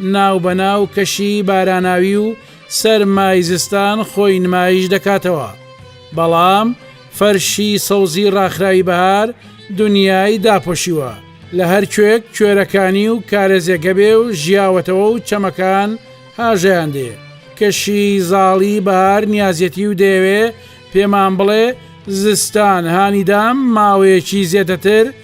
ناو بە ناو کەشی باراناوی و سەرمای زستان خۆی نمایش دەکاتەوە، بەڵام فەرشی سەوزی ڕاخراوی بەهار دنیای داپۆشیوە، لە هەر کوێک کوێرەکانی و کارێزێکە بێ و ژیاوەتەوە و چەمەکان هاژەیان دێ، کەشی زاڵی بەهار نیازیەتی و دەیەوێ پێمان بڵێ زستان هانیدام ماوەیەکی زێدەتر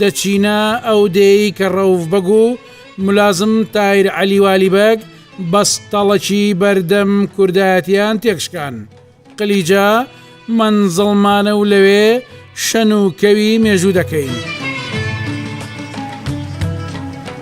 دەچینە ئەو دێی کە ڕەوف بەگ و ملازم تایر عەلی والی بەگ بەستەڵەکی بەردەم کوردایەتیان تێکشکان. قلیجە مەنزڵمانە و لەوێ شەن و کەوی مێژوو دەکەین.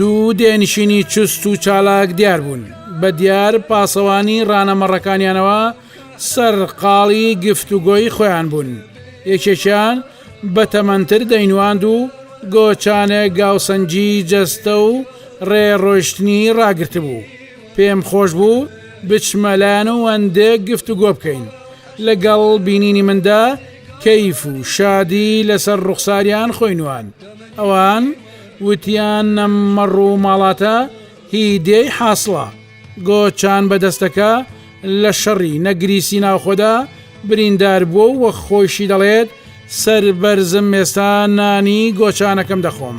دوو دێنشینی چست و چالاک دیار بوون بە دیار پاسەوانی ڕانەمەڕەکانیانەوە سەرقاڵی گفتوگۆی خۆیان بوون یەکێکیان بەتەمەنتر دەینواند و گۆچانە گاوسەنگی جەستە و ڕێ ڕۆیشتنی ڕاگرتبوو. پێم خۆش بوو بچمە لایان و ئەندێک گفتوگۆ بکەین. لە گەڵ بینینی مندا کەیف و شادی لە سەر ڕوخساریان خۆی نواند. ئەوان وتیان ئەم مەڕ و ماڵاتە هی دێی حاسڵە. گۆچان بەدەستەکە لە شەڕی نەگریسی ناوخۆدا بریندار بووە و خۆیشی دەڵێت، سەربەرزم ئێستا نانی گۆچانەکەم دەخۆم.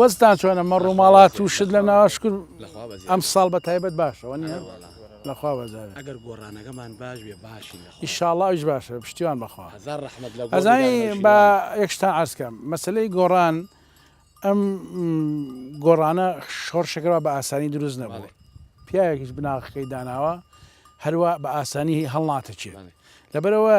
وەزتان چۆنە مە ڕووماڵات و شت لە ناواشکر ئەم ساڵ بە تایبەت باشەوە نیە لەخوا بەزار ئەگەر گۆڕانەکەمان باش بێ باشین ئیشاڵاویش باشە پشتیوان بەخوا ئەزانی بە یەکشتان ئاسکەم مەسلەی گۆڕان ئەم گۆڕانە شۆڕشەکەەوە بە ئاسانی دروست نەبوو پیاوێکیش بناغەکەی داناوە هەروە بە ئاسانی هەڵناتەچێت لەبەرەوە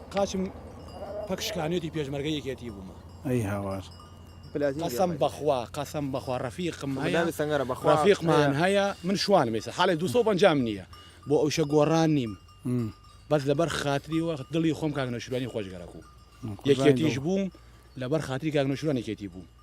قاچم پک شکانێتی پێشمەرگە یەکێتی بوومە ئەی هاوار. قەسەم بەخوا قەسەم بەخوا ڕەفیقم هەیە ڕەفیقمان هەیە من شوانم ئێستا حاڵێ 250 نییە بۆ ئەو شە گۆڕان نیم بەس لەبەر خاتری وە دڵی خۆم کاک نەشورانی خۆشگەرەکو یەکێتیش بووم لەبەر خاتری کاک نەشورانێکێتی بوو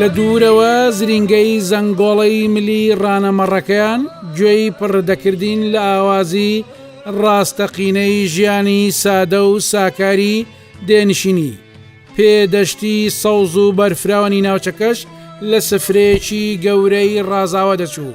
لە دوورەوە زرینگەی زەنگۆڵەی ملی ڕانەمەڕەکەیان گوێی پڕدەکردین لە ئاوازی ڕاستەقینەی ژیانی سادە و ساکاری دێنشینی پێدەشتی سەوز و بەرفراوانی ناوچەکەش لە سفرەیەکی گەورەی ڕازاوە دەچوو.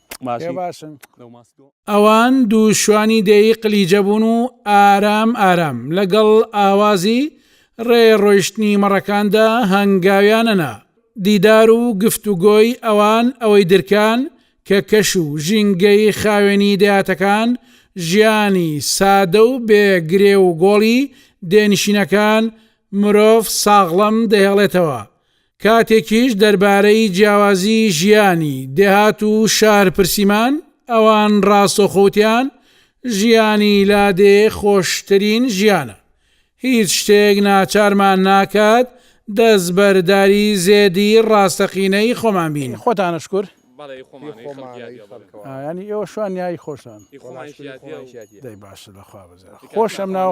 پێ باشن. ئەوان دوو شوانی دێی قلیجە بوون و ئارام ئارام لەگەڵ ئاوازی ڕێ ڕۆیشتنی مەڕەکاندا هەنگاویان ئەنا. دیدار و گفتوگۆی ئەوان ئەوەی درکان کە کەش و ژینگەی خاوێنی دەیاتەکان، ژیانی سادە و بێ گرێ و گۆڵی دێنشینەکان مرۆڤ ساغڵەم دەهێڵێتەوە کاتێکیش دەربارەی جیاوازی ژیانی دێهات و شار پرسیمان، ئەوان ڕاستەوخۆ وتیان، ژیانی لادێ خۆشترین ژیانە. هیچ شتێک ناچارمان ناکات دەستبەرداری زێدی ڕاستەقینەی خۆمان بین. خۆتانە شکور. بەڵی خۆمانە ی خەڵکی یادی ئەبەن. ئا یانی ئێوە شوان یایی خۆشتان. ی خۆمان شکری خۆمان شیادیە. دەی باشە لە خوا بزێ خۆشم ناو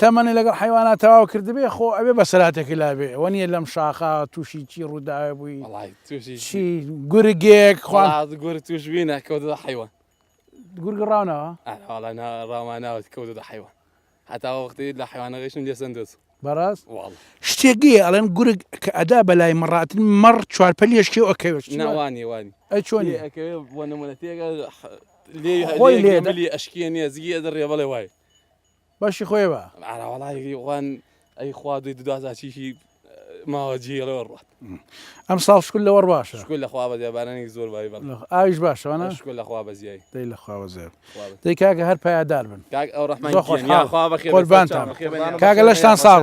تەمەنی لەگەڵ حەیوانا تەواو کردبێ خۆ ئەوێ بەسەراتێکی لابێ ئەوە نیە لەم شاخە تووشی چی ڕووداوێ بووی چی گورگێک خوات گور توشبینە کەوتە حیوان گورگ ڕاونەوە ڕاماناوت کەوتە حیوان هەتا وەختی لە حیوانەکەشم لێسەن دەست بەڕاست شتێکی ئەڵێن گورگ کە ئەدا بەلای مەڕاتن مەڕ چوارپەل یشکی و ئەکەوێت ناوانی وانی ئە چۆنی بۆ نمونەتێگە لێ ئەشکیە نیە زگی ئەدە ڕێ بەڵێ وای باشی خۆێ با. ئارا وەڵایی وان ئەی خوا دوی دودازا چیشی ماوە جی لەوە ڕات ئەم ساڵ شکل لەوەڕ باشە شکل لە خوا بەزیای بارانێک زۆر بای بەڵ ئاویش باشەوانە شکل لە خوا بەزیای دەی لە خوا بەزێ دەی کاگە هەر پایدار بن کاک ئەو ڕحمان خۆش خوا بەخێ قوربانتان کاگە لەشتان ساغ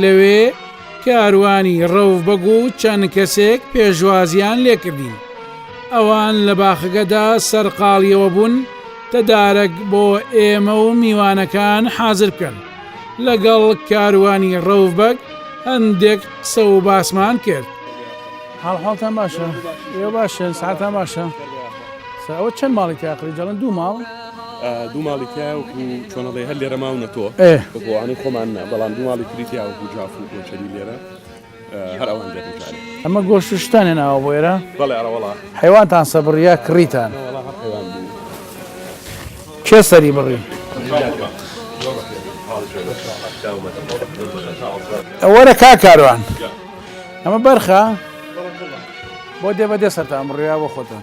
لەوێ کاروانی ڕەوف بەگ و چەند کەسێک پێشوازییان لێکردین. ئەوان لە باخەکەدا سەرقاڵییەوە بوون تەدارەک بۆ ئێمە و میوانەکان حازر بکەن. لەگەڵ کاروانی ڕەوف بەگ هەندێک قسە و باسمان کرد. حاڵحاڵتان باشە؟ ئێوە باشن؟ سەعاتان باشە؟ سەر ئەوە چەند ماڵی تیا کڕی؟ دەڵێن دوو ماڵ. دوو ماڵی تیایە وەکو چۆن ئەڵێی هەر لێرە ماونەتەوە بە بۆوانەی خۆمان نا بەڵام دوو ماڵی تری تیا وەکو جاف و کۆچەری لێرە هەر ئەوان دێن جارێ ئەمە گۆشت و شتان هێناوە بۆ ئێرە بەڵێ ئەرە وەڵا حەیوانتان سەبڕی یا کڕیتان نە وەڵا هەر حەیوان بوو کێ سەری بڕی ئەوەرە کا کاروان ئەمە بەرخە بۆ دێ بە دێ سەرتان بڕیا بۆ خۆتان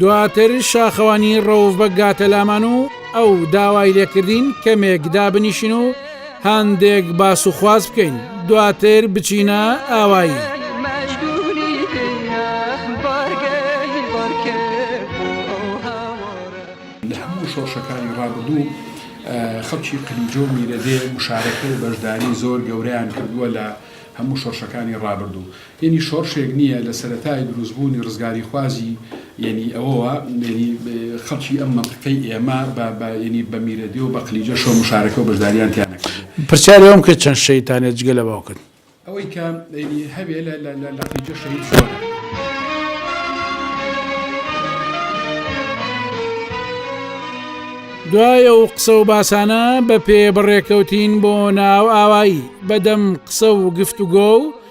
دواتر شاخەوانی ڕەوف بەگ گاتە لامان و ئەو داوای لێکردین کەمێک دابنیشین و هەندێک باس و خواز بکەین دواتر بچینە ئاوایی. شۆڕشەکانی ڕابردوو خەڵکی قلیجۆ و میرەدێ مشارەکە و بەشداری زۆر گەورەیان کردووە لە هەموو شۆڕشەکانی ڕابردوو یەنی شۆڕشێک نییە لە سەرەتای دروست بوونی ڕزگاریخوازی یەنی ئەوەوە یەنی خەڵکی ئەم مەنتقەی ئێمە بە بە یەنی بە میرەدێ و بە قلیجەش و مشارەکە و بەشداریان تیا نەکردووە. پرسیاری ئەوم کرد چەند شەهید تان هەیە جگە لە باوکت؟ ئەوەی کە یەنی هەبێ لە لە لە لە قلیجە شەهید زۆرە. دوای ئەو قسە و باسانە بە پێ بەڕێکەوتین بۆ ناو ئاوایی بەدەم قسە و گفتوگۆ و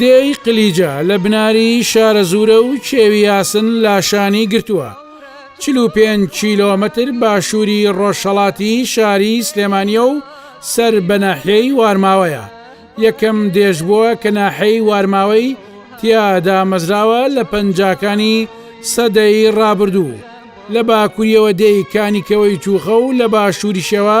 دێی قلیجە لە بناری شارەزوورە و کێوی یاسن لاشانی گرتووە، چل و پێنج کیلۆمەتر باشووری ڕۆژهەڵاتی شاری سلێمانییە و سەر بە ناحیەی وارماوەیە، یەکەم دێژبووە کە ناحیەی وارماوەی تیا دامەزراوە لە پەنجاکانی سەدەی ڕابردوو، لە باکووریەوە دێی کانیکەوەی توخە و لە باشووریشەوە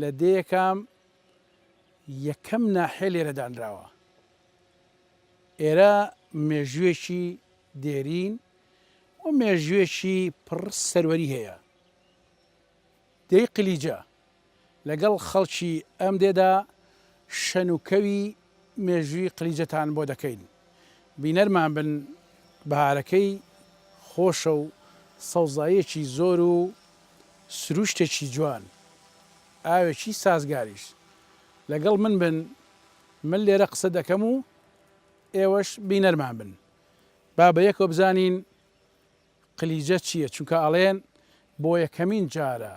لە دێیەکام یەکەم ناحیە لێرە دانراوە. ئێرە مێژووێکی دێرین و مێژووێکی پڕ سەروەری هەیە. دێی قلیجە لەگەڵ خەڵکی ئەم دێدا شەن و کەوی مێژووی قلیجەتان بۆ دەکەین بینەرمان بن بەهارەکەی خۆشە و سەوزاییەکی زۆر و سروشتێکی جوان ئاوێکی سازگاریش لەگەڵ من بن من لێرە قسە دەکەم و ئێوەش بینەرمان بن با بەیەکەوە بزانین قلیجە چیە چونکە ئەڵێن بۆ یەکەمین جارە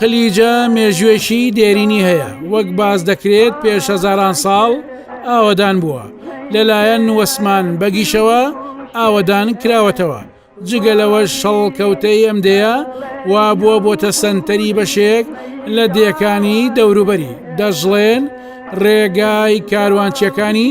قلیجە مێژوێکی دێرینی هەیە وەک باز دەکرێت پێش هەزاران ساڵ ئاوەدان بووە لەلایەن وەسمان بەگیشەوە ئاوەدان کراوەتەوە جگە لەوە شەڵ کەوتەی ئەم دەیە وا بووە بۆتە سەنتەری بەشێک لە دێکانی دەوروبەری دەژڵێن ڕێگای کاروانچیەکانی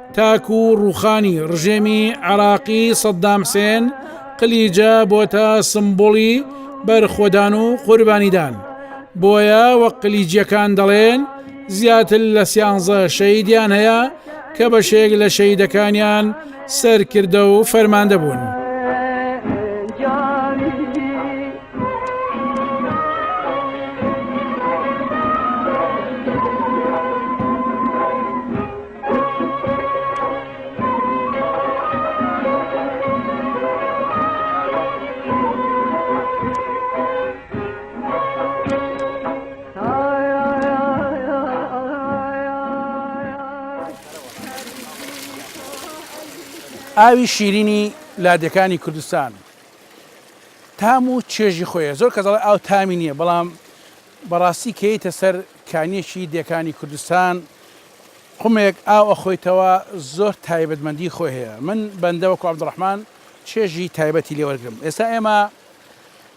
تاکو ڕوخانی ڕژێمی عێراقی سەدام حسێن قلیجە بۆتە سمبولی بەرخۆدان و قوربانیدان بۆیە وە قلیجیەکان دەڵێن زیاتر لە سیانزە شەیدیان هەیە کە بەشێک لە شەیدەکانیان سەرکردە و فەرماندە بوون. ئاوی شیرینی لادێکانی کوردستان تام و چێژی خۆیە زۆر کەزەڵ ئاو تامی نییە بەڵام بەڕاستی کەیتە سەر کانیەکی دێکانی کوردستان قومێک ئاو ئەخۆیتەوە زۆر تایبەتمەندی خۆی هەیە من بەندە وەکو عبدالرحمن چێژی تایبەتی لێ وەرگرم ئێستا ئێمە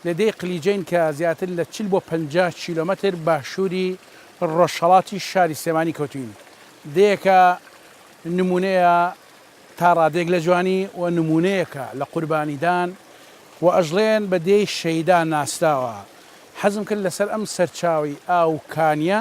لە دێی قلیجەین کە زیاتر لە چل بۆ پەنجا کیلۆمەتر باشووری ڕۆژهەڵاتی شاری سلێمانی کەوتوین دێیەکە نمونەیە تا ڕادێک لە جوانی و نمونەیەکە لە قوربانیدان و ئەژڵێن بە دێی شەیدا ناسراوە حەزم کرد لەسەر ئەم سەرچاوی ئاو کانیە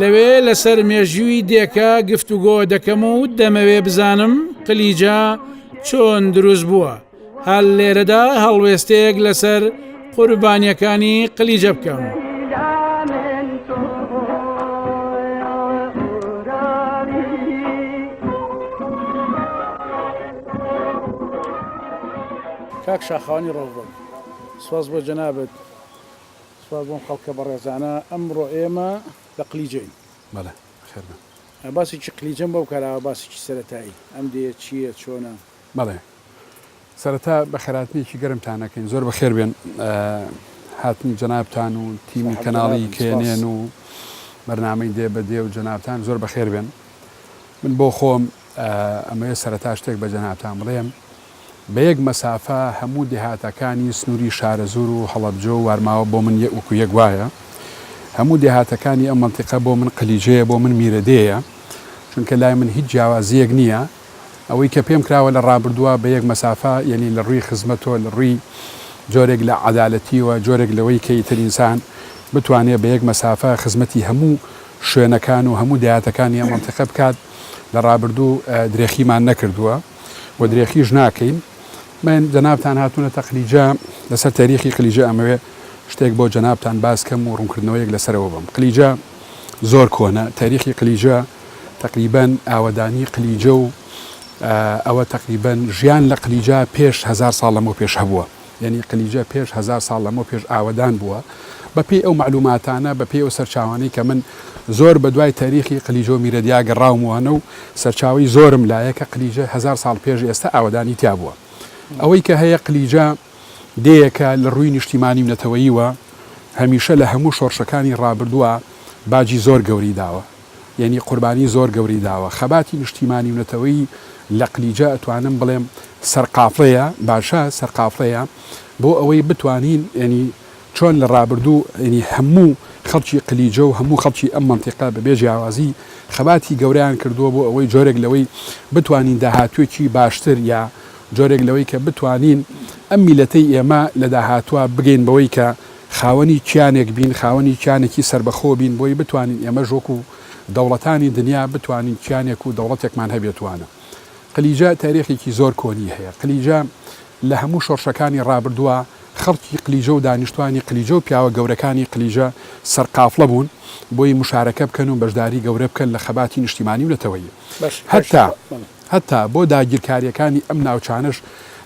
لەوێ لەسەر مێژووی دێکە گفتوگۆ دەکەم و دەمەوێ بزانم قلیجە چۆن دروست بووە هەر لێرەدا هەڵوێستەیەک لەسەر قوربانیەکانی قلیجە بکەم. کاک شاخوانی ڕۆڵبن سوز بۆ جەنابەت سپاس بۆم خەڵکە بەڕێزانە ئەمڕۆ ئێمە لە قلیجەین. بەڵێ بەخێر بێن. باسی چی قلیجەم بەو کاراوە باسی چی سەرەتایی ئەم دێیە چییە چۆنە. بەڵێ سەرەتا بەخێرهاتنێکی گەرمتان ئەکەین زۆر بەخێر بێن هاتنی جەنابتان و تیمی کەناڵی کێنێن و بەرنامەی دێ بە دێ و جەنابتان زۆر بەخێر بێن من بۆ خۆم ئەمەوێ سەرەتا شتێک بە جەنابتان بڵێم، بە یەک مەسافە هەموو دێهاتەکانی سنووری شارەزوور و هەڵەبجە و وارماوە بۆ من وەکو یەک وایە. هەموو دێهاتەکانی ئەم مەنتیقە بۆ من قلیجەیە، بۆ من میرەدێیە، چونکە لای من هیچ جیاوازییەک نییە. ئەوەی کە پێم کراوە لە ڕابردووە بە یەک مەسافە، یەنی لە ڕووی خزمەتەوە، لە ڕووی جۆرێک لە عەدالەتییەوە، جۆرێک لەوەی کە ئیتر ئینسان بتوانێ بە یەک مەسافە خزمەتی هەموو شوێنەکان و هەموو دەیاتەکانی ئەم مەنتیقە بکات، لە ڕابردوو درێخیمان نەکردووە و درێخیش ناکەین. من جەنابتان هاتوونەتە قلیجە، لەسەر تەریخی قلیجە ئەمەوێ شتێک بۆ جەنابتان باس کەم و ڕوونکردنەوەیەک لەسەرەوە بەم. قلیجە زۆر کۆنە، تەریخی قلیجە تەقریبەن ئاوەدانی قلیجە و ئەوە تەقریبەن ژیان لە قلیجە پێش هەزار ساڵ لەمەو پێش هەبووە. یەنی قلیجە پێش هەزار ساڵ لەمەو پێش ئاوەدان بووە بە پێی ئەو مەعلوماتانە بە پێی ئەو سەرچاوانەی کە من زۆر بە دوای تاریخی قلیجە و میرەدیا گەڕاوموانە و سەرچاوی زۆرم لایە کە قلیجە هەزار ساڵ پێش ئێستا ئاوەدانی تیا بووە ئەوەی کە هەیە قلیجە دەیەکە لە ڕووی نیشتیمانی و نەتەوەییوە هەمیشە لە هەموو شۆڕشەکانی ڕابردووە باجی زۆر گەوری داوە یەنی قوربانی زۆر گەورەی داوە خەباتی نشتیمانی و نەتەوەیی لەقلیجە ئەتوانم بڵێم سەرقافڵەیە باشە سەرقافڵەیە بۆ ئەوەی بتوانین یەنی چۆن لە ڕابردوو یەنی هەموو خەڵکی قلیجە و هەموو خەڵکی ئەم مەنتیقە بەبێ جیاوازی خەباتی گەورەیان کردووە بۆ ئەوەی جۆرێک لەوەی بتوانین داهاتوێکی باشتر یا جۆرێک لەوەی کە بتوانین ئەم میلەتەی ئێمە لە داهاتوە بگەین بەوەی کە خاوەنی کیانێک بین، خاوەنی کیانێکی سەربەخۆ بین، بۆی بتوانین ئێمەش وەکو دەوڵەتانی دنیا بتوانین کیانێک و دەوڵەتێکمان هەبێت وانە. قلیجە تاریخێکی زۆر کۆنی هەیە، قلیجە لە هەموو شۆڕشەکانی ڕابردووە خەڵکی قلیجە و دانیشتوانی قلیجە و پیاوە گەورەکانی قلیجە سەرقافڵە بوون بۆی مشارەکە بکەن و بەشداری گەورە بکەن لە خەباتی نیشتیمانی و نەتەوەیی هەتا هەتا بۆ داگیرکاریەکانی ئەم ناوچانەش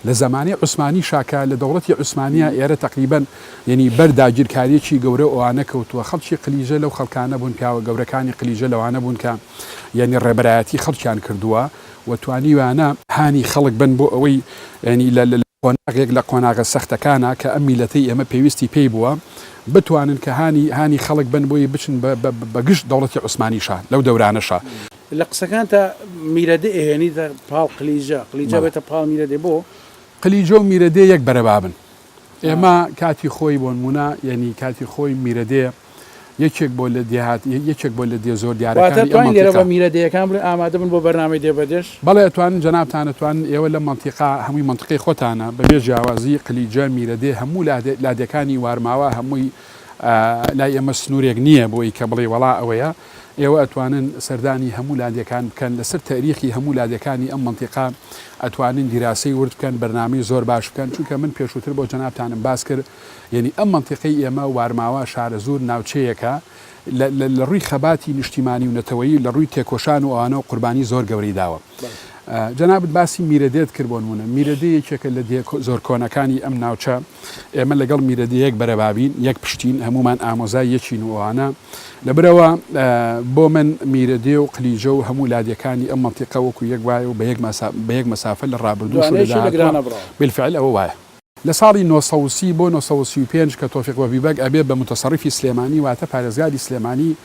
لە زەمانی عوسمانیشا کە لە دەوڵەتی عوسمانیا ئێرە تەقریبەن یەنی بەر داگیرکاریەکی گەورەو ئەوانە کەوتوە خەڵکی قلیجە لەو خەڵکانە بوون پیاوە گەورەکانی قلیجە لەوانە بوون کە یەنی ڕێبەرایەتی خەڵکیان کردوە و توانیویانە هانی خەڵک بن بۆ ئەوەی یەنی لە قۆناغێک لە قۆناغە سەختەکانە کە ئەم میلەتەی ئێمە پێویستی پێی بووە بتوانن کە هانی هانی خەڵک بن بۆی بچن بە بە بە گژ دەوڵەتی عوسمانیشا لەو دەورانەشا. لە قسەکانتا میرەدئ ئەهێنیتە پاڵ قلیجە، قلیجە بەڵێ. ئەبێتە پاڵ میرەدێ بۆ؟ قلیجە و میرەدێ یەک بەرەبابن ئێمە کاتی خۆی بۆنموونە یەنی کاتی خۆی میرەدێ، یەکێک بۆ لە دێهات یەکێک بۆ لە دێ زۆر دیارەکانی ئەم مەنتیقە. واتە توانین لێرە بە میرە دێیەکان بڵێین ئامادە بن بۆ بەرنامەی دێ بە دێش؟ بەڵێ توانین جەنابتان ئەتوانن ئێوە لەم مەنتیقە هەمووی مەنتقەی خۆتانە بە بێ جیاوازی قلیجە، میرە دێ هەموو لادێکانی وارماوا هەمووی لای ئێمە سنوورێک نییە بۆی کە بڵێی وەڵا ئەوەیە ئێوە ئەتوانن سەردانی هەموو لادێکان بکەن لە سەر تەریخی هەموو لادێکانی ئەم مەنتیقە ئەتوانن دیراسەی ورد بکەن بەرنامەی زۆر باش بکەن چونکە من پێشووتر بۆ جەنابتانم باس کرد یەنی ئەم مەنتیقەی ئێمە وارماوا شارەزوور ناوچەیەکە لە لە ڕووی خەباتی نیشتیمانی و نەتەوەیی لە ڕووی تێکۆشان و ئەوانەوە قوربانی زۆر گەورەی داوە جەنابت باسی میرەدێت کرد بۆ نمونە میرەدێ یەکێکە لە دێ زۆر کۆنەکانی ئەم ناوچە ئێمە لەگەڵ میرەدەیەک بەرەبابین یەک پشتین هەمومان ئامۆزای یەکین و ئەوانە لە برەوە بۆ من میرەدێ و قلیجە و هەموو لادیەکانی ئەم مەنتیقە وەکو یەک وایە و بە یەک مەسا بە یەک مەسافە لە ڕابردوو بالفعل ئەوە وایە لە ساڵی نۆ سەد و سی بۆ نۆ سەد و سی و پێنج کە تۆفیق بەبی بەگ ئەبێ بە موتەسەڕیفی سلێمانی واتە پارێزگاری سلێمانی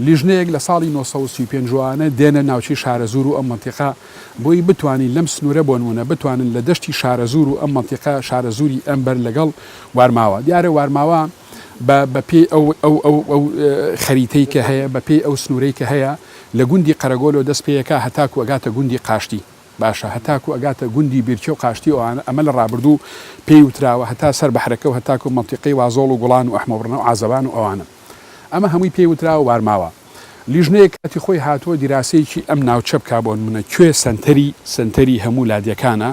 لیژنەیەک لە ساڵی نۆ سەد و سی و پێنج ئەوانە دێنە ناوچەی شارەزوور و ئەم مەنتیقە بۆی بتوانین لەم سنوورە بۆنموونە بتوانن لە دەشتی شارەزوور و ئەم مەنتیقە شارەزووری ئەم بەر لەگەڵ وارماوە دیارە وارماوە بە بە پێی ئەو ئەو ئەو ئەو خەریتەی کە هەیە بە پێی ئەو سنوورەی کە هەیە لە گوندی قەرەگۆلۆ دەست پێیەکە هەتاکو ئەگاتە گوندی قاشتی باشە هەتاکو ئەگاتە گوندی بیرکێ و قاشتی ئەوانە ئەمە لە ڕابردوو پێی وتراوە هەتا سەر بەحرەکە و هەتاکو مەنتیقەی وازۆڵ و گوڵان و ئەحمەوڕنە و عازەبان و ئەوانە ئەمە هەمووی پێی وتراوە وارماوە لیژنەیەک کاتی خۆی هاتووە دیراسەیەکی ئەم ناوچە بکا بۆنمونە کوێ سەنتەری سەنتەری هەموو لادێکانە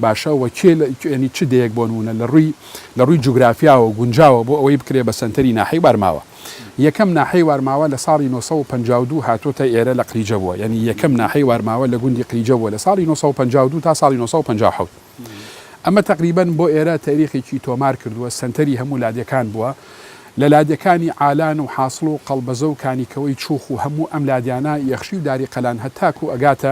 باشە وە کێ لە یەنی چ دێیەک بۆنمونە لە ڕووی لە ڕووی جوگرافیاوە گونجاوە بۆ ئەوەی بکرێ بە سەنتەری ناحەی وارماوە. یەکەم ناحەی وارماوە لە ساڵی نۆ سەد و پەنجا و دوو هاتۆتە ئێرە لە قریجە بووە یانی یەکەم ناحەی وارماوە لە گوندی قریجە بووە لە ساڵی نۆ سەد و پەنجا و دوو تا ساڵی نۆ سەد و پەنجا و حەوت ئەمە تەقریبەن بۆ ئێرە تەریخێکی تۆمار کردووە سەنتەری هەموو لادێکان بووە لە لادێکانی عالان و حاسڵ و قەڵبەزە و کانیکەوەی چوخ و هەموو ئەم لادیانە یەخشی و داری قەلان هەتاکوو ئەگاتە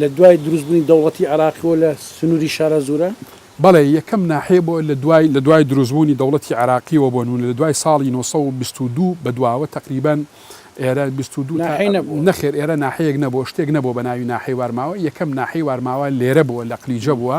لە دوای دروست بونی دەوڵەتی عێراقیوە لە سنوری شارە زورە؟ بەڵێ یەکەم ناحیە بۆ لە دوای لە دوای دروست بونی دەوڵەتی عێراقیوە بۆ نمونە لە دوای ساڵی نۆ سەد و بیست و دوو بە دواوە تەقریبەن ئێرە بیست و دوو تا نەخێر ئێرە ناحیەک نەبوە شتێک نەبوە بە ناوی ناحیەی وارماوە یەکەم ناحیەی وارماوە لێرە بوە لە قلیجە بوە.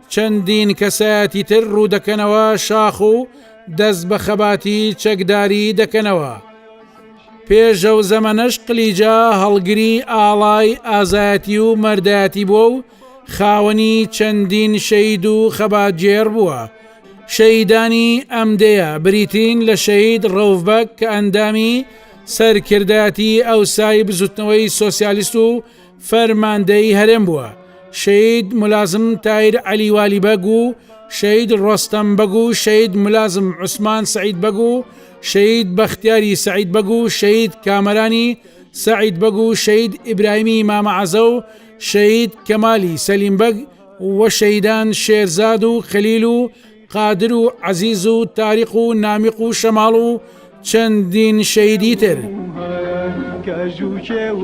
چەندین کەسایەتی تر ڕوودەکەنەوە شاخ و دەست بە خەباتی چەکداری دەکەنەوە. پێش ئەو زەمەنەش قلیجا هەڵگری ئاڵای ئازایەتی و مەردایەتی بووە و خاوەنی چەندین شەید و خەباتگێڕ بووە. شەیدانی ئەم دێیە بریتین لە شەید ڕەوڤبەگ کە ئەندامی سەرکردایەتی ئەوسای بزوتنەوەی سۆسیالیست و فەرماندەیی هەرێم بووە، شەید ملازم تایر عەلی والی بەگ و شەید ڕۆستەم بەگ و شەید ملازم عوسمان سەعید بەگ و شەید بەختیاری سەعید بەگ و شەید کامەرانی سەعید بەگ و شەید ئیبراهیمی مامە عەزە و شەید کەمالی سەلیم بەگ و شەیدان شێرزاد و خەلیل و قادر و عەزیز و تاریق و نامیق و شەماڵ و چەندین شەیدی تر کەژوکێ و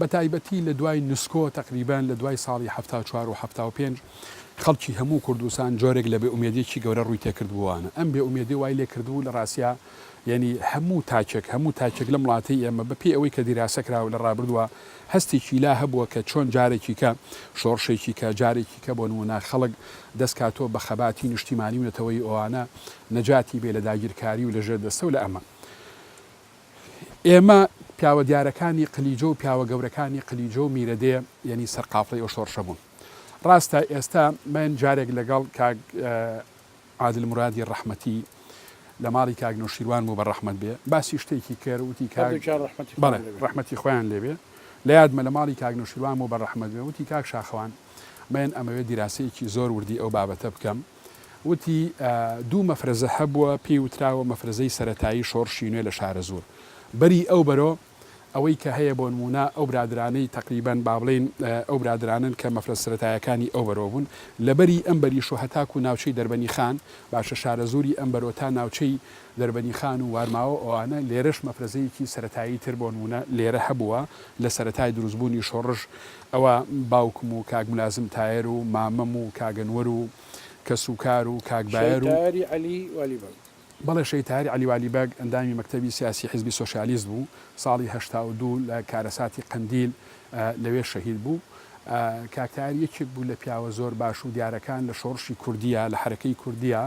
بەتایبەتی لە دوای نسکۆ تەقریبەن لە دوای ساڵی حەفتا و چوار و حەفتا و پێنج خەڵکی هەموو کوردستان جۆرێک لە بێئومێدیەکی گەورە ڕووی تێکردبووانە ئەم بێئومێدی وای لێکردبوو لە ڕاستیا یەنی هەموو تاکێک هەموو تاکێک لەم وڵاتەی ئێمە بە پێی ئەوەی کە دیراسە کراوە لە ڕابردووە هەستێکی لا هەبووە کە چۆن جارێکی کە شۆڕشێکی کە جارێکی کە بۆ نموونە خەڵک دەستکاتۆ بە خەباتی نیشتیمانی و نەتەوەی ئەوانە نەجاتی بێ لە داگیرکاری و لە ژێر دەستە و لە ئەمە ئێمە پیاوە دیارەکانی قلیجۆ و پیاوە گەورەکانی قلیجۆ و میرەدێ یەنی سەر قافڵەی ئەو شۆڕشە بوون. ڕاستە ئێستا من جارێک لەگەڵ کاک عادل مرادی ڕەحمەتی لە ماڵی کاک نەوشیروان بوو بە ڕەحمەت بێ باسی شتێکی کرد وتی کاک هەردوو جار ڕەحمەتی خوان بەڵێ لێ بێ. ڕەحمەتی خۆیان لێ بێ لە یادمە لە ماڵی کاک نەوشیروان بوو بە ڕەحمەت بێ وتی کاک شاخەوان من ئەمەوێ دیراسەیەکی زۆر وردی ئەو بابەتە بکەم. وتی، دوو مەفرەزە هەبووە پێی وتراوە مەفرەزەی سەرەتایی شۆڕشی نوێ لە شارەزوور بەری ئەو بەرۆ ئەوەی کە هەیە بۆنموونە ئەو برادرانەی تەقریبەن بابڵێین ئەو برادرانەن کە مەفرەز سەرەتایەکانی ئەو بەرۆ بوون لە بەری ئەم بەریش و هەتاکوو ناوچەی دەربەنی خان باشە شارەزووری ئەم بەرۆ تا ناوچەی دەربەنی خان و وارماوە ئەوانە لێرەش مەفرەزەیەکی سەرەتایی تر بۆنموونە لێرە هەبووە لە سەرەتای دروستبوونی شۆڕش ئەوا باوکم و کاک ملازم تایەر و مامم و کاک ئەنوەر و کەس و کار و کاک شەی بایەر و. تایەری عەلی والی بەگ. بەڵێ شەی تایەر عەلی والی بەگ ئەندامی مەکتەبی سیاسی حیزبی سۆشیالیست بوو، ساڵی هەشتا و دوو لە کارەساتی قەندیل لەوێ شەهید بوو. کاک تایەر یەکێک بوو لە پیاوە زۆر باش و دیارەکان لە شۆڕشی کوردییە، لە حەرەکەی کوردییە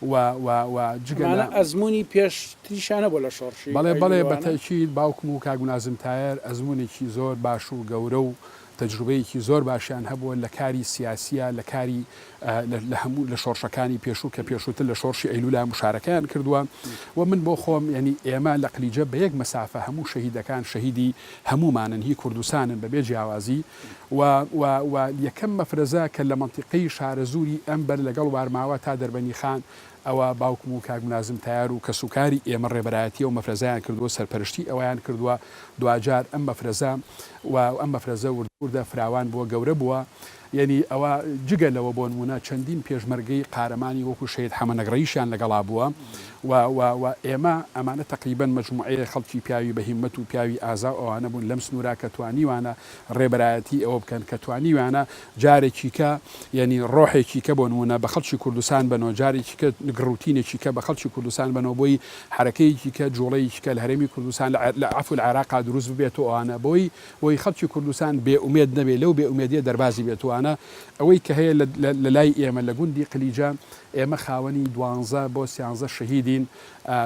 و و و جگە لە. ئەمانە ئەزموونی پێش تریشیانە بۆ لە شۆڕشی بەڵێ ئایین و بەڵێ بە لەوانە. تەئکید باوکم و کاک ملازم تایەر ئەزموونێکی زۆر باش و گەورە و تەجروبەیەکی زۆر باشیان هەبووە لە کاری سیاسییا لە کاری لە لە هەموو لە شۆڕشەکانی پێشوو کە پێشووتر لە شۆڕشی ئەیلوولا مشارەکەیان کردووە و من بۆ خۆم یەنی ئێمە لە قلیجە بە یەک مەسافە هەموو شەهیدەکان شەهیدی هەموومانن هی کوردستانن بە بێ جیاوازی و و و یەکەم مەفرەزە کە لە مەنتیقەی شارەزووری ئەم بەر لەگەڵ وارماوە تا دەربەنی خان ەوە باوکم و کاک ملازم تەیار و کەسوکاری ئێمە ڕێبەرایەتی ئەو مەفرەزەیان کردووە سەرپەرشتی ئەویان کردووە دواجار ئەم مەفرەزە و ئەم مەفرەزە وردە وردە فراوان بووە گەورە بووە یەنی ئەوە جگە لەوە بۆنموونە چەندین پێشمەرگەی قارەمانی وەکو شەهید حەمە نەگڕەیشیان لەگەڵا بووە و و و ئێمە، ئەمانە تەقریبەن مەجموعەیەک خەڵکی پیاوی بە هیممەت و پیاوی ئازا و ئەوانە بوون لەم سنوورە کە توانیوانە ڕێبەرایەتیی ئەوە بکەن کە توانیویانە جارێکیکە یەنی ڕۆحێکیکە بۆ نموونە بە خەڵکی کوردستان بەنەوە جارێکیکە گڕوتینێکیکە بە خەڵکی کوردستان بەنەوە بۆی حەرەکەیەکیکە جووڵەیەکیکە لە هەرێمی کوردستان لە عێ لە عەفوو لە عێراقا دروست ببێت و ئەوانە بۆی بۆی خەڵکی کوردستان بێ ئومێد نەبێ لەو بێ ئومێدییە دەربازی بێت و ئەوانە ئەوەی کە هەیە لە لە لای ئێمە لە گوندی قلیجە ئێمە خاوەنی دوانزە بۆ سیانزە شەهیدین،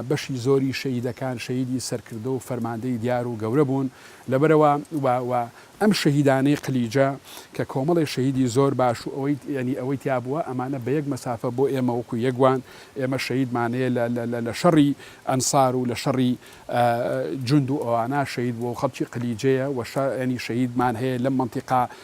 بەشی زۆری شەهیدەکان شەهیدی سەرکردە و فەرماندەی دیار و گەورە بوون، لەبەرئەوە و و ئەم شەهیدانەی قلیجە کە کۆمەڵێ شەهیدی زۆر باش و ئەوەی یانی ئەوەی تیا بووە ئەمانە بە یەک مەسافە بۆ ئێمە وەکو یەک وان، ئێمە شەهیدمان هەیە لە لە لە لە شەڕی ئەنسار و لە شەڕی جوند و ئەوانە شەهید بووە و خەڵکی قلیجەیە و شە یانی شەهیدمان هەیە لەم مەنتیقا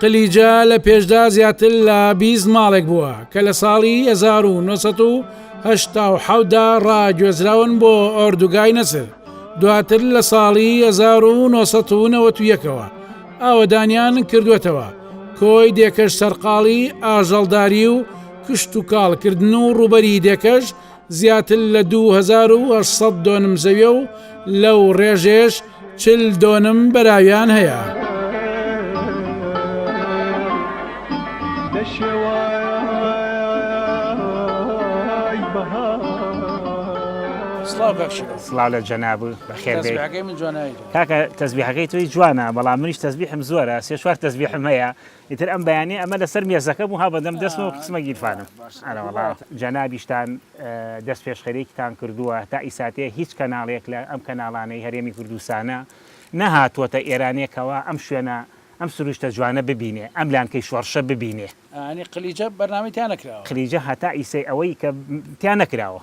قلیجە لە پێشدا زیاتر لە بیست ماڵێک بووە کە لە ساڵی 1970دا ڕاگوێزراون بۆ ئۆردوگای نەسر دواتر لە ساڵی 1990ەوە ئاوەدانیان کردوێتەوە کۆی دێکەش سەرقاڵی ئاژەڵداری و کشت و کاڵکردن و ڕوبەری دێکەش زیاتر لە دوو هەزار و هەشت سەد دۆنم زەویە و لەو ڕێژێش چل دۆنم بەراویان هەیە. سڵاو لە جەناب و بەخێر کاکە تەزبیحەکەی توی جوانە بەڵام منیش تەزبیحم زۆرە سێ چوار تەزبیحم هەیە ئیتر ئەم بەیانیە ئەمە لەسەر مێزەکە بوو ها بەدەم دەستمەوە قسمە گیرفانم ئەرەوەڵا جەنابیشتان دەست پێشخەرێکیتان کردووە تا ئیساتێ هیچ کەناڵێک لە ئەم کەناڵانەی هەرێمی کوردستانە نەهاتووەتە ئێرانێکەوە ئەم شوێنە ئەم سروشتە جوانە ببینێ ئەم لانکەی شۆڕشە ببینێ ئەنی قلیجە بەرنامی تیا نەکراوە قلیجە هەتا ئیسەی ئەوەی کە تیا نەکراوە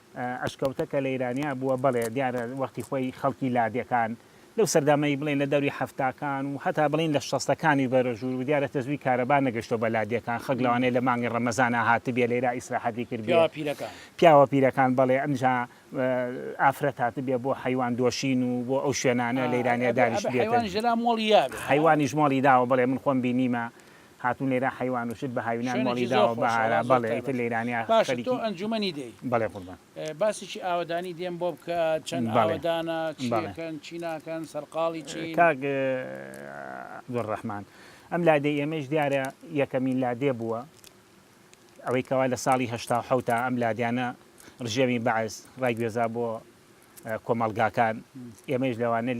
ئەشکەوتە کە لەیرانیا بووە بەڵێ دیارە وەختی خۆی خەڵکی لادێکان لەو سەردەمەی بڵێن لە دەوری حەفتاکان و هەتا بڵێن لە شەستەکانی بەرەژوور و دیارە تەزووی کارەبا نەگەشتوە بە لادێکان خەک لەوانەیە لە مانگی ڕەمەزانا هاتبێ لەیرا ئیسراحەتی کردبێ پیاوە پیرەکان بەڵێ ئەمجا ئافرەت هاتبێ بۆ حەیوان دۆشین و بۆ ئەو شوێنانە لەیرانیا دانیشتبێتن حەیوانیش مۆڵی داوە بڵێ من خۆم بینیمە هاتوون لێرە حەیوان و شت بە هاوینان مۆڵی داوە بە هارا بەڵێ ئیتر لە ئیرانیا خەریکی بەڵێ قوربان. باسێکی ئاوەدانی دێم بۆ بکە چەند ئاوەدانە چی ئەکەن چی ناکەن سەرقاڵی چین. کاک عبدالرحمن ئەم لادێی ئێمەیش دیارە یەکەمین لادێ بووە ئەوەی کەوا لە ساڵی هەشتا و حەوتا ئەم لادیانە ڕژێمی بەعس ڕایگوێزا بۆ کۆمەڵگاکان ئێمەش لەوانە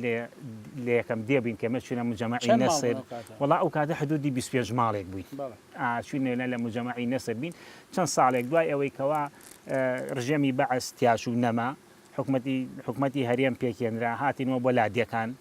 لە یەکەم دێ بووین کەمە چونە مجەمەعی نەسر وڵا ئەو کاتە حدودی 25 ماڵێک بووین چونێنە لە مجەمەعی نەسر بین چەند ساڵێک دوای ئەوەی کەوا ڕژێمی بەعس تیاش و نەما حکومەتی حکومەتی هەرێم پێکێنرا هاتینەوە بۆ لادیەکان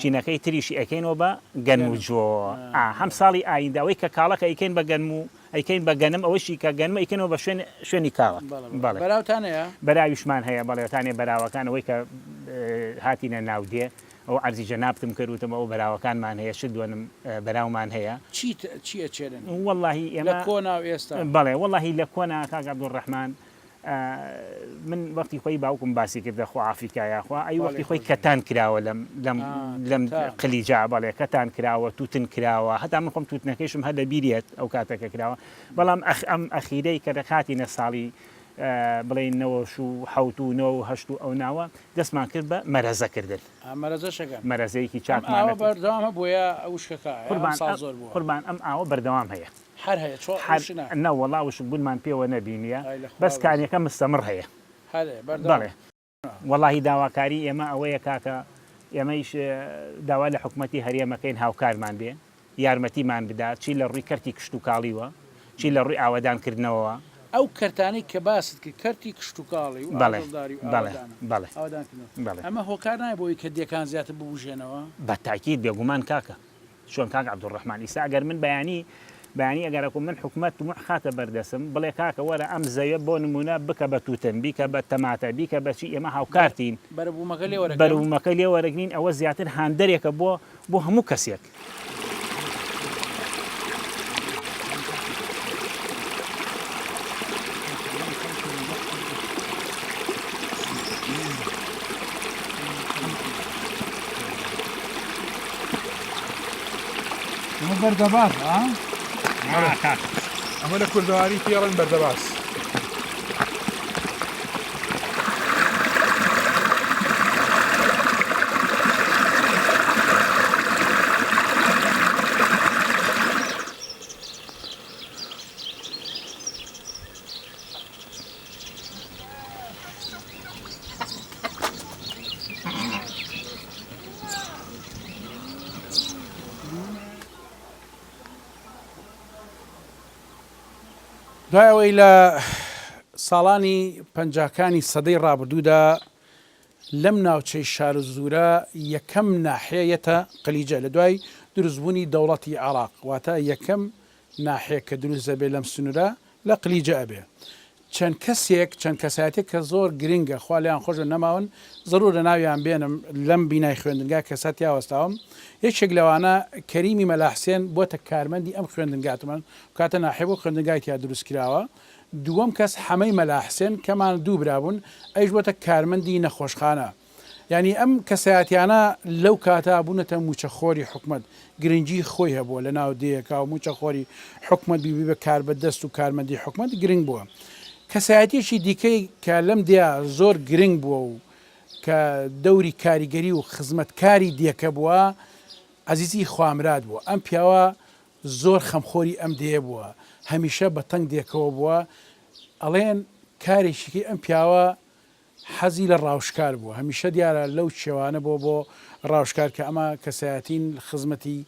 چینەکەی تریشی ئەکەینۆ بە گەنم و جۆ ئا هەم ساڵی ئایندە ئەوەی کە کاڵەکە ئەیکەین بە گەنم و ئەیکەین بە گەنم ئەوەشی کە گەنم ئەیکەینەوە بە شوێن شوێنی کاڵەک بەڵێ بەراوتان هەیە؟ بەراویشمان هەیە بەڵێ تانێ بەراوەکان ئەوەی کە هاتینە ناو دێ ئەوە عەرزی جەنابتم کرد وتم ئەوە بەراوەکانمان هەیە شت دوەنم بەراومان هەیە. چیت چی ئەچێنن؟ وەڵاهی ئێمە لە کۆنا و ئێستا؟ بەڵێ وەڵاهی لە کۆنا کاک عەبدولڕەحمان من وەختی خۆی باوکم باسی کردە خۆ ئافریکا یاخوا ئەی وەختی خۆی کەتان کراوە لەم لەم لەم قلیجا بەڵێ کەتان کراوە توتن کراوە هەتا من خۆم توتنەکەیشم هەر لە بیرێت ئەو کاتەکە کراوە بەڵام ئەخ ئەم ئەخیرەی کە دەکاتی نە ساڵی بڵین نەوەش و حوت و نۆ و هەشت و ئەو ناوە دەستمان کرد بە مەرەزەکردن مەرەزەشەکە مەرەزەیەکی چاکمانە بەردەوامە بۆیە ئەو شکەکە قوربان زۆر بوو قوربان ئەم ئاوە بەردەوام هەیە حەر هەیە چۆن حەر ڕوشنە. نەوەڵا وشک بونمان پێوە نەبینیە ئای لە خوا بەس بژی. کانیەکە مستەمڕ هەیە. هەر هەیە بەردەوام بەڵێ. بە. وەڵاهی داواکاری ئێمە ئەوەیە کاکە ئێمەیش داوا لە حکومەتی هەرێم ئەکەین هاوکارمان بێ یارمەتیمان بدا چی لە ڕووی کەرتی کشتوکاڵیوە چی لە ڕووی ئاوەدان کردنەوەوە. ئەو کەرتانەی کە باست کرد کەرتی کشتوکاڵی و بەڵێ ئاژەڵداری و بەڵێ ئاوەدانە بەڵێ ئاوەدان کردنەوە بەڵێ. ئەمە هۆکار نایە بۆ ئەوی کە دێکان زیاتر ببوژێنەوە؟ بە تاکید بێ گومان کاکە چۆن کاک عبدالرحمن ئیستا ئەگەر من بەیانی بەیانی ئەگەرەکو من حکومەت مح خاتە بەردەسم بڵێ کاکە وەرە ئەم زەویە بۆ نمونە بکە بە توتن بیکە بە تەماتە بیکە بەچی ئێمە هاوکارتین بەرەبوومەکە لێ وەرەگرین ئەوە زیاتر هاندەرێکە بۆ بۆ هەموو کەسێک. ئەمە بەردەباز ئەمە لە کوردەواری پێڵن بەردەباز دوای ئەوەی لە ساڵانی پەنجاکانی سەدەی ڕابردوودا لەم ناوچەی شار زورە یەکەم ناحەیەتە قلیجە لە دوای دروستبوونی دەوڵەتی عراق واتە یەکەم ناحیەک کە دروست دەبێت لەم سنورە لە قلیجە ئەبێ چەند کەسێک چەند کەسایەتێک کە زۆر گرنگە خوا لێیان خۆشبێت نەماون زەرورە ناویان بێنم لەم بینای خوێندنگا کەسا تیا وەستاوم یەکێک لەوانە کەریمی مەلا حسێن بۆتە کارمەندی ئەم خوێندنگا تمەن کاتە ناحیە بۆ خوێندنگای تیا دروست کراوە دووەم کەس حەمەی مەلا حسێن کەمان دوو برا بوون ئەویش بۆتە کارمەندی نەخۆشخانە یانی ئەم کەسایەتیانە لەو کاتە بونەتە موچەخۆری حکومەت گرنگی خۆی هەبوە لە ناو دێیەکا و موچەخۆری حکومەت بی ببە کاربەدەست و کارمەندی حکومەت گرنگ بوە کەسایەتیەکی دیکەی کە لەم دێیا زۆر گرنگ بوە و کە دەوری کاریگەری و خزمەتکاری دێکە بوە عەزیزی خوامراد بوە ئەم پیاوە زۆر خەمخۆری ئەم دێیە بوە هەمیشە بە تەنگ دێکەوە بوە ئەڵێن کارێکیکەی ئەم پیاوە حەزی لە ڕاوشکار بووە هەمیشە دیارە لەو چێوانە بۆ بۆ ڕاوشکار کە ئەمە کەسایەتین خزمەتی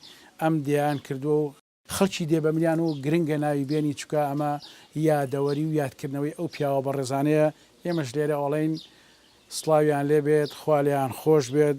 ئەم دێیان کردووە و خەڵکی دێ بەملیان و گرنگە ناوی بێنی چونکە ئەمە یادەوەری و یادکردنەوەی ئەو پیاوە بەڕێزانەیە ئێمەش لێرە ئەڵێین سڵاویان لێ بێت خوا لێیان خۆش بێت.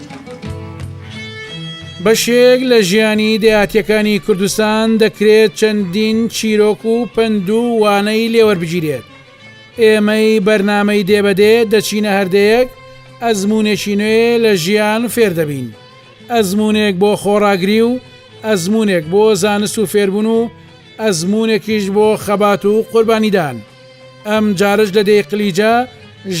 بەشێک لە ژیانی دەیاتیەکانی کوردستان دەکرێت چەندین چیرۆک و پەند و وانەی لێوەربگیرێت ئێمەی بەرنمەی دێبەدێ دەچینە هەردەیەک ئەزمونێکی نوێ لە ژیان فێردەبین ئەزمونێک بۆ خۆڕاگری و ئەزمونێک بۆ زانست و فێربوون و ئەزمونێکیش بۆ خەبات و قوربانیدان ئەم جارش لە دێی قلیجە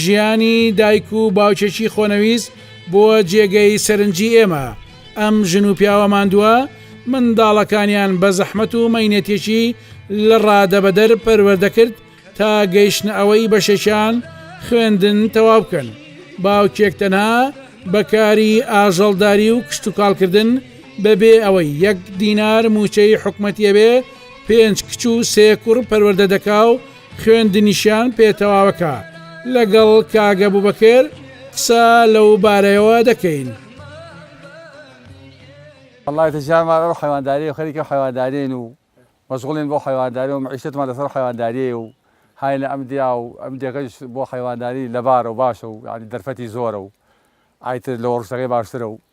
ژیانی دایک و باوکێکی خۆنەویست بووە جێگەی سەرنجی ئێمە. ئەم ژن و پیاوە ماندووە منداڵەکانیان بە زەحمەت و مەینەتێکی لە ڕادەبەدەر پەروەردە کرد تا گەیشتنە ئەوەی بەشێکیان خوێندن تەواو بکەن. باوکێک تەنها بە کاری ئاژەڵداری و کشتوکاڵکردن بە بێ ئەوەی یەک دینار مووچەی حکومەتی هەبێ پێنج کچ و سێ کوڕ پەروەردە دەکا و خوێندنیشیان پێ تەواوەکە. لەگەڵ کاک ئەبوبەکر قسە لەو بارەیەوە دەکەین. وەڵڵا تەجارمان ئەو حەیوانداریەو خەریکی ئەو حەیوانداریەین و مەشغوڵین بەو حەیوانداریەو مەعیشەتمان لەسەر ئەو حەیوانداریەیە و هاینە ئەم دیا و ئەم دێگەش بۆ حەیوانداری لەبارە و باشە و یانی دەرفەتی زۆرە و ئای تر لەوە ڕوشتەکەی باشترە و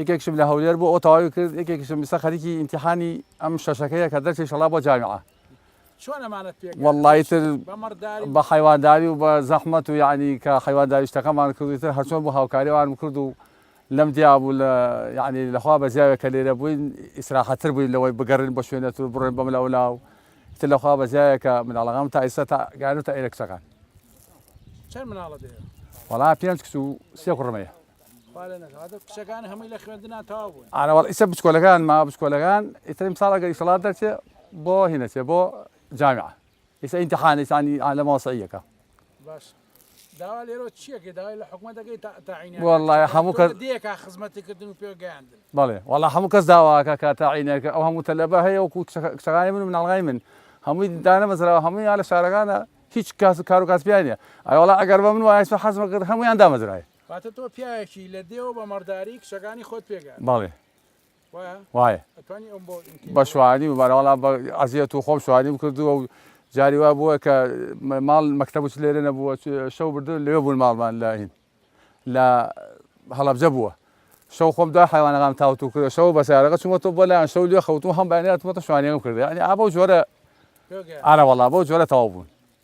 یەکێکشم لە هەولێر بۆ ئەو تەواوی کرد یەکێکشم ئیستا خەریکی ئیمتیحانی ئەم شەشەکەیە کە دەرچی شەڵا بۆ جامعە واللهی تر بە حیوانداری و بە زەحمەت و یعنی کە حیوانداری شتەکەمان کردی تر هەرچۆن بۆ هاوکاریوانم کرد و لەم دیابوو لە یعنی لەخوا بە زیاوێک کە لێرە بووین ئیسراحەتر بووین لەوەی بگەڕین بە شوێنەت و بڕێن بەم لەولا و تر لەخوا بە زیاوێکە مناڵەکەم تا ئیستا تا گەیانە تا ئێرە کچەکان وڵا پێنج کچ و سێ کوڕمەیە ئانەوەڵ ئیسە بچکۆلەکان ما بچکۆلەکان ئیترم ساڵ ئەگەر ئیسڵات دەرچێ بۆ هینەچێ بۆ جامعە ئیسە ئینتحان ئیسانی لە مەوەسعیەکە والله هەموو کەس بەڵێ والله هەموو کەس داواکە کە تاعینەکە ئەو هەموو تەلەبە هەیە و کچەکانی من و مناڵغای من هەمووی دانە مەزراوە هەمووی لە شارەکانە هیچ کاس کار و کاسبیانە ئەوڵا ئەگەر بە من وایە حەزمە کرد هەمویان دامەزرایە واتە تۆ پیاوێکی لە دێوە بە مەڕداری کچەکانی خۆت پێگات بەڵێ وایە بە شوانی بەراڵا بە عزیەت و خۆم شوانی بکردووە و جاری وا بووە کە ماڵ مەکتتە بچ لێرە نەبووە شەو بردن لێ بوون ماڵمان لە هین لە هەڵبجە بووە شەو خۆم دا حیوانەکان تاوت و کرد شەو بەسارەکە چوومە تۆ بۆ لایەن شەو لێ خەوتو هەم بەێناتمەتە شوانیەکەم کردی ئەنی ئابە و جۆرە ئارەوەڵا بۆ جۆرە تەواو بوون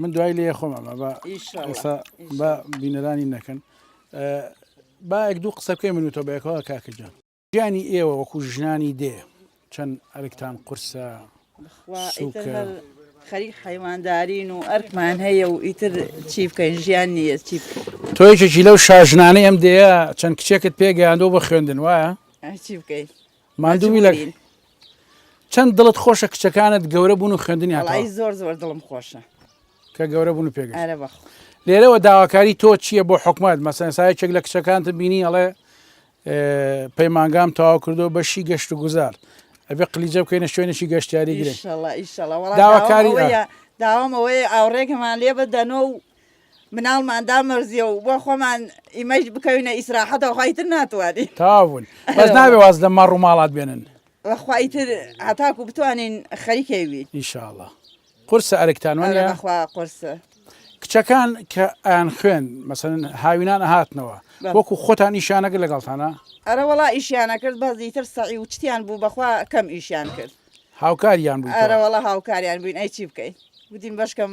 من دوای لێ خۆم ئەمە بە ئیشسا بە بینەرانی نەکەن باەک دوو قسە بکەی منوتە بەیەکەوە کاکەجان گیانی ئێوە وەکو ژنانی دێ چەند ئەرکتان قورسە خەری حیواندارین و ئەرکمان هەیە و ئیتر چی بکەین ژیان نیە چی تۆیکێکی لەو شاژنانەی ئەم دەیە چەند کچێکت پێگەیاندەوە بە خوێندن وایە چی بکەیت ماندوو لە ماجبورین چەند دڵت خۆشە کچەکانت گەورە بوون و خوێندنی هاتەوە وەڵایی زۆر زۆر دڵم خۆشە کە گەورە بوون و پێگەشت ئەرە بەخۆ لێرەوە داواکاری تۆ چییە بۆ حکومت مەسەن سایەکێک لە کچەکانت بینی ئەڵێ اه، پەیمانگام تەواو کردو بەشی گەشت و گوزار ئەبێ قلیجە بکەینە شوێنێکی گەشتیاری گرنگ ئیشەڵا ئیشەڵا وەڵا داواکاری داوام ئەوەیە داوام ئەوەیە ئاوڕێکەمان لێ بدەنەوە و مناڵمان دامەرزیە و بۆ خۆمان ئیمەش بکەوینە ئیسراحەتەوە خیتر ناتوانین تاون بەس ناوێ واز لە مەڕ و ماڵات بێنن وەخوایتر هەتاکو بتوانین خەریکەوی ئیشاڵە قرسە ئەرکتانوانە بەخوا قرسە کچەکان کە ئەیان خوێن مەسەن هاوینان هاتنەوە وەکو خۆتان ئیشانەکە لەگەڵتانە ئەرە وڵا ئیشیانە کرد بەزی تر سەعی و چتیان بوو بەخوا کەم ئیشیان کرد هاوکاریان بوو ئەرەوەڵا هاوکاریان بووین ئەی چی بکەین گوتین بەشکەم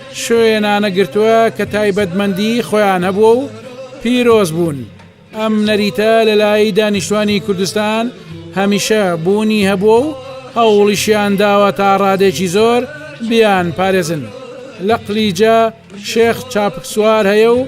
شوێنانە گرتووە کە تایبەتمەندی خۆیان هەبووە و پیرۆز بوون. ئەم نەریتە لە لای دانیشتوانی کوردستان هەمیشە بوونی هەبووە و هەوڵیشیان داوە تا ڕادێکی زۆر بیان پارێزن. لە قلیجە شێخ چاپکسوار هەیە و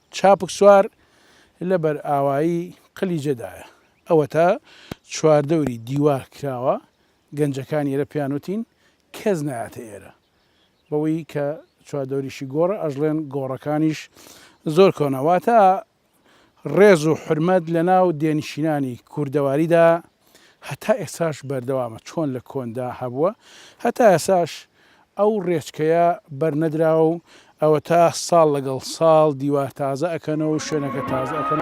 چاپک سوار لە بەرئاوایی قلیجەدایە، ئەوەتا چواردەوری دیوار کراوە، گەنجەکان ئێرە پێیان وتین کەس نایاتە ئێرە، بەوەی کە چواردەوریشی گۆڕە ئەژڵێن گۆڕەکانیش زۆر کۆنە، واتە ڕێز و حورمەت لەناو دێنشینانی کوردەواریدا هەتا ئێستاش بەردەوامە چۆن لە کۆندا هەبووە هەتا ئێستاش ئەو ڕێچکەیە بەرنەدراوە و ئەوەتا ساڵ لەگەڵ ساڵ دیوار تازە ئەکەنەوە و شوێنەکە تازە ئەکەن.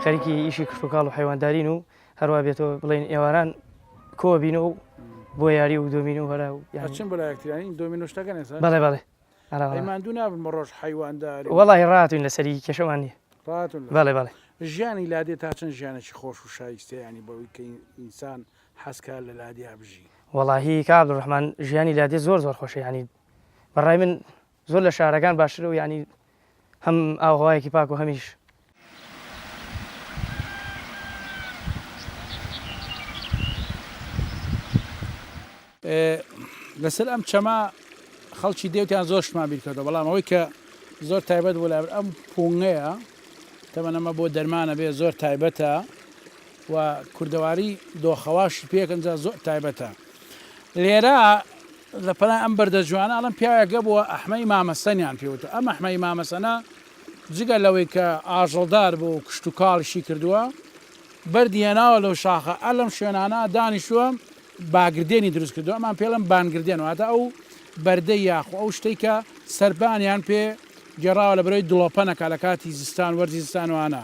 خەریکی ئیشی کشتوکاڵ و حەیواندارین و هەروە بێتەوە بڵین ئێواران کۆ بین و بۆ یاری و دۆمین و هەرا و یاچن بەلایەکترین دۆمینشتەکە نێسا بەڵێ بەڵێ ماندوو نابن بە ڕۆژ حیواندار وڵی ڕاتوین لەسەری کێشەوان نیە ڕاتون بەڵێ بەڵێ ژیانی لادێ تا چەند ژیانێکی خۆش و شایستەیانی بەوەی کە ئینسان حەزکار لە لادیا بژی وەڵاهی کابل ڕحمان ژیانی لادێ زۆر زۆر خۆشیانی بەڕای من زۆر لە شارەکان باشترە و یانی هەم ئاوهەوایەکی پاک و هەمیش. لەسەر ئەم چەمە خەڵکی دێوتیان زۆر شتمان بیرکردەوە بەڵام ئەوەی کە زۆر تایبەت بۆ لابر ئەم پونگەیە تەمەنەمە بۆ دەرمانە بێ زۆر تایبەتە و کوردەواری دۆخەواش پێکەنجا زۆر تایبەتە لێرە لە پەنای ئەم بەردە جوانە ئەڵەم پیاوێکە بووە ئەحمەی مامەسەنیان پێوتە ئەم ئەحمەی مامەسەنە جگە لەوەی کە ئاژەڵدار بۆ و کشت و کاڵیشی کردووە بەردی هێناوە لەو شاخە ئە لەم شوێنانە دانیشووە باگردێنی دروست کردو ئەمان پێڵم بانگردێن واتە ئەو بەردە یاخۆ ئەو شتێک کە سەربانیان پێ گێڕاوە لە برەوەی دڵۆپەنەکە لە کاتی زستان وەرزی زستانوانە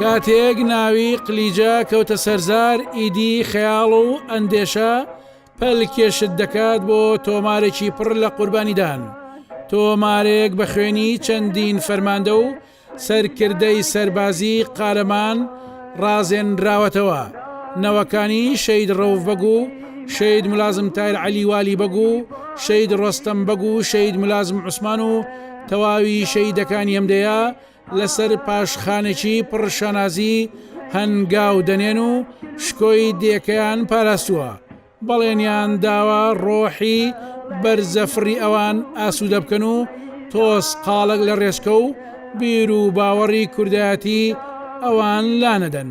کاتێک ناوی قلیجە کەوتە سەر زار، ئیدی خەیاڵ و ئەندێشە پەلکێشت دەکات بۆ تۆمارێکی پڕ لە قوربانیدان، تۆمارێک بە خوێنی چەندین فەرماندە و سەرکردەی سەربازی قارەمان ڕازێنراوەتەوە، نەوەکانی شەید ڕەوف بەگ و شەید ملازم تایر عەلی والی بەگ و شەید ڕۆستەم بەگ و شەید ملازم عوسمان و تەواوی شەیدەکانی ئەم دێیە، لەسەر پاشخانێکی پڕ شانازی هەنگاو دەنێن و شکۆی دێکەیان پاراستووە بەڵێنیان داوە ڕۆحی بەرزە فڕی ئەوان ئاسوودە بکەن و تۆز قاڵک لە ڕێچکە و بیر و باوەڕی کوردایەتی ئەوان لانەدەن.